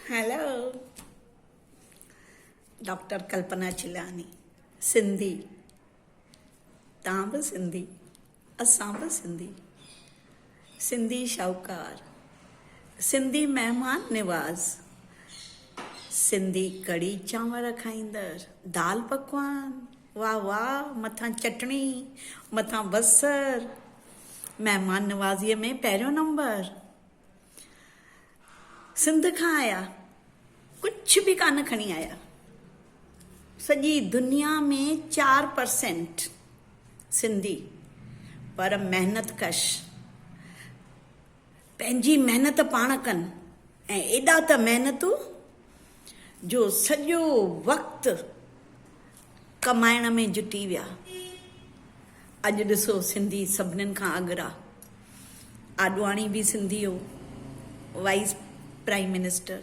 Hello doctor Kalpana Chellani Sindhi تان به سنڌي اسان به سنڌي سنڌي شاهوڪار سنڌي مهمان نواز سنڌي ڪڙي چانور کائيندر دال پڪوان واهه واهه مٿان چٽڻي مٿان بصر مهمان نوازيء ۾ پهريون نمبر سنڌ کان آيا ڪڇ به ڪانه کڻي آيا سڄي دنيا ۾ چار پرسينٽ سنڌي پر محنت ڪش پنهنجي محنت پاڻ ڪن ۽ ايڏا ته محنتو جو سڄو وقت ڪمائڻ ۾ جٽي ويا. اڄ ڏسو سنڌي سڀنين کان اڳرا. آڏواڻي به سنڌي هو، وائيس پرائيم منسٽر.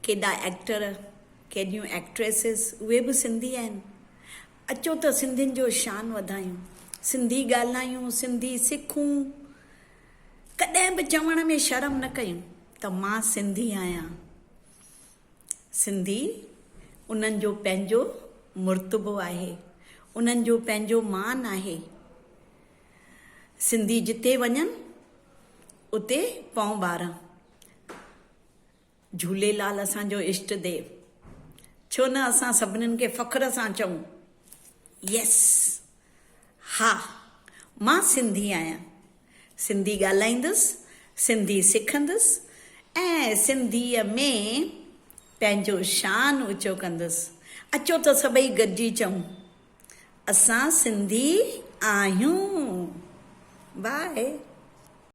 ڪيڏا ايڪٽر، ڪيڏيون ايڪٽريسز اهي به سنڌي آهن. اچو ته سنڌين جو شان وڌايون، سنڌي ڳالهايون، سنڌي سکون. ڪڏهن به چوڻ ۾ شرم نه ڪيون ته مان سنڌي آهيان. سنڌي انهن جو پنهنجو مرتبو آهي، انهن جو پنهنجو مان آهي. سنڌي جتي وڃن اتي پون ٻارن. جهوليلال اسان جو اشٽ ديو ڇو نه اسان سڀنن کي فخر سان چئون يس ها مان سنڌي آهيان سنڌي ڳالهائيندس سنڌي سکندس ۽ سنڌي ۾ پنهنجو شان اوچو ڪندس اچو ته سڀئي گڏجي چئون اسان سنڌي آهيون باء.